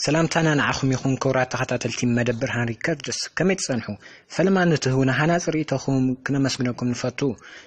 ሰላምታና ንዓኹም ይኹን ክብራት ተኸታተልቲ መደብር ሃን ሪከርድስ ከመይ ትጸንሑ ፈለማ ንትህቡና ሃናጺ ርእይቶኹም ክነመስግነኩም ንፈቱ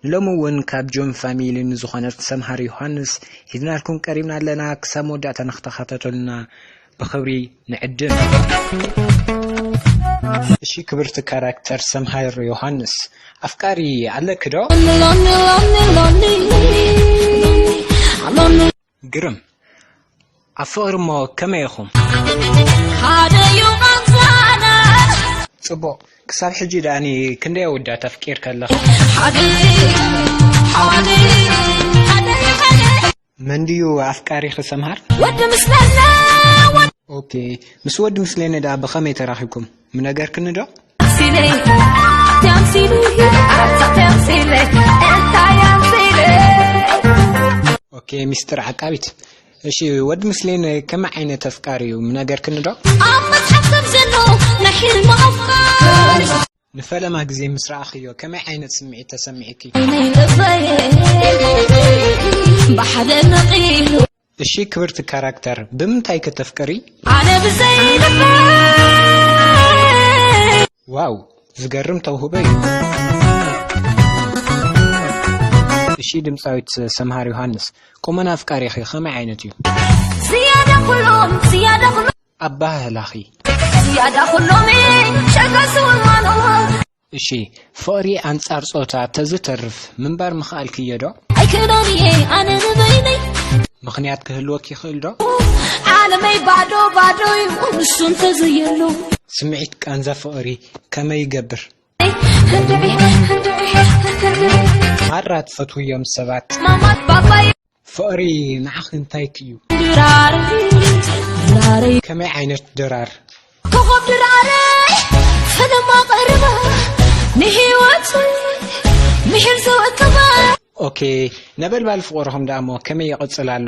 ንሎሚ እውን ካብ ጆን ፋሚሊ ንዝኾነት ሰምሃር ዮሃንስ ሒዝናልኩም ቀሪብና ኣለና ክሳብ መወዳእታ ንክተኸታተሉና ብኽብሪ ንዕድም። እሺ ክብርቲ ካራክተር ሰምሃር ዮሃንስ ኣፍቃሪ ኣለኪ ዶ? ግርም ኣብ ፍቕሪ እሞ ከመይ ኢኹም? ጽቡቕ ክሳብ ሕጂ ደኣኒ ክንደይ ኣወዳት ኣፍቂርካ ኣለኻ? መን ድዩ ኣፍቃሪኺ ሰምሃር? ወዲ ምስለነ ኦኬ ምስ ወዲ ምስሌነ ደኣ ብኸመይ ተራኺብኩም ምነገርክኒ ዶ? ኣምሲለይ ኣቲ ኣምሲለይ ኣቲ ኣምሲለይ እንታይ ኣምሲለይ ኦኬ ሚስጥር ዓቃቢት እሺ ወዲ ምስሌነ ከመይ ዓይነት ኣፍቃሪ እዩ ምነገርክኒ ዶ? ኣብ መጽሓፍ ከም ዘሎ ናይ ሕልሚ ኣፍቃሪ ንፈለማ ግዜ ምስ ረኣኽዮ ከመይ ዓይነት ስምዒት ተሰሚዑኪ? እሺ ክብርቲ ካራክተር ብምንታይ ከተፍቅሪ? ዋው ዝገርም ተውህቦ እዩ። እሺ ድምፃዊት ሰምሃር ዮሃንስ ቁመና ኣፍቃሪኺ ከመይ ዓይነት እዩ? ኣበሃህላኺ። ዝያዳ ኩሎሚ ሸገሱ እማኖ። እሺ ፍቕሪ ኣንጻር ጾታ ተዝተርፍ ምንባር ምኽኣልክዮ ዶ? ኣይክእሎን እየ ኣነ ንበይነይ። ምኽንያት ክህልወኪ ይኽእል ዶ? ዓለመይ ባዶ ባዶ ዩ ንሱ እንተዘየሎ። ስምዒት ቃንዛ ፍቕሪ ከመይ ይገብር? ማራ ትፈትውዮም ሰባት። ፍቕሪ ንዓኺ እንታይኪ እዩ? ከመይ ዓይነት ድራር? ኮኾብ ድራረይ ፈለማ ቀረባ ንህይወት ምሒር ዘወከባ ኦኬ ነበልባል ፍቕርኹም ደኣሞ ከመይ ይቕጽል ኣሎ?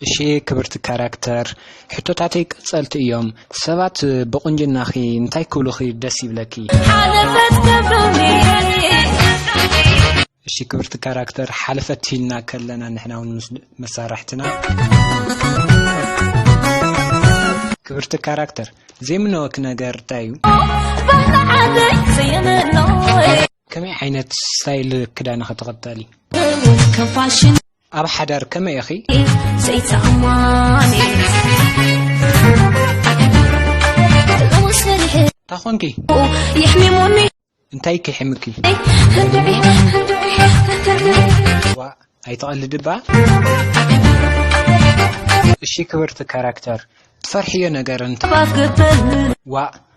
እሺ ክብርቲ ካራክተር ሕቶታተይ ቀጸልቲ እዮም ሰባት ብቁንጅናኺ እንታይ ክብሉኺ ደስ ይብለኪ? ሓለፈት ክብሉኒ እሺ ክብርቲ ካራክተር ሓለፈት ኢልና ከለና ንሕና ውን ምስ መሳርሕትና ክብርቲ ካራክተር ዘይምነወኪ ነገር እንታይ እዩ? ባሕተዓለይ ዘየመኖይ ከመይ ዓይነት ስታይል ክዳንኺ ትኽተሊ? ከም ፋሽን ኣብ ሓዳር ከመይ ኢኺ? እንታ ኾንኪ? እንታይ ኪሒምኪ? ዋእ ኣይትቐልዲ እባ። እሺ ክብርቲ ካራክተር ትፈርሕዮ ነገር እንተ ዋእ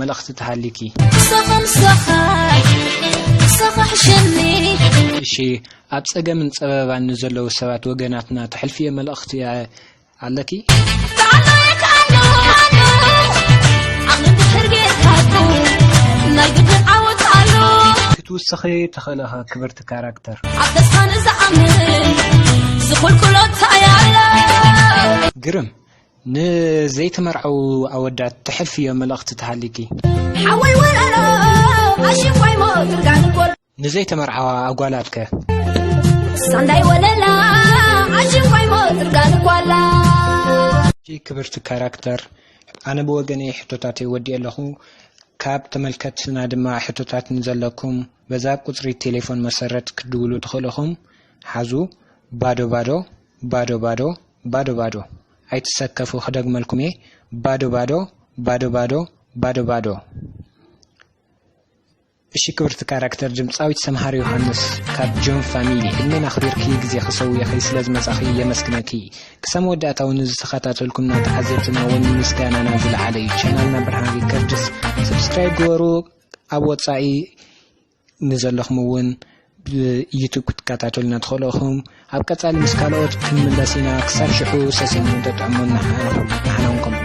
መልእኽቲ ተሃልዩኪ። ምሳኻ ምሳኻ ምሳኻ ሕሸኒ። እሺ ኣብ ጸገምን ጸበባን ንዘለዉ ሰባት ወገናትና ተሕልፍዮ መልእኽቲ ኣለኪ? ክትውስኺ ትኽእሊ ኢኺ ክብርቲ ካራክተር። ኣብ ተስፋ ንዝኣምን ዝኹልኩሎ እንታይ ኣሎ። ግርም ንዘይተመርዐዉ ኣወዳት ተሕልፍዮ መልእኽቲ ተሃሊኪ። ሓወይ ወረሮ ኣሽንኳይ ሞትርጋን ጎሎ። ንዘይተመርዓዋ ኣጓላት ከ? ሳንዳይ ወለላ ኣሽንኳይ ሞትርጋን ጓላ። ኣዝዩ ክብርቲ ካራክተር ኣነ ብወገነይ ሕቶታተይ ወዲኤ ኣለኹ ካብ ተመልከትና ድማ ሕቶታት ንዘለኩም በዛ ቁፅሪ ቴሌፎን መሰረት ክትድውሉ ትኽእሉ ኢኹም ሓዙ ባዶ ባዶ ባዶ ባዶ ባዶ ባዶ ኣይትሰከፉ ክደግመልኩም እየ ባዶ ባዶ ባዶ ባዶ ባዶ ባዶ እሺ ክብርቲ ካራክተር ድምፃዊት ሰምሃር ዮሃንስ ካብ ጆን ፋሚሊ እነን ኣኽቢርኪ ግዜ ክሰውየኺ ስለ ዝመጻኺ የመስግነኪ ክሳብ መወዳእታ እውን ዝተኸታተልኩም ናተዓዘብትና እውን ምስጋናና ዝለዓለ እዩ ቻናልና ብርሃን ሪከርድስ ሰብስክራይብ ግበሩ ኣብ ወፃኢ ንዘለኹም ውን ብ ዩቱብ ክትከታተሉና ትኽእሉ ኢኹም። ኣብ ቀጻሊ ምስ ካልኦት ክንምለስ ኢና ክሳብ ሽሑ ሰሲንኩም ተጥዕሙና ንሕና ውን ከምኡ።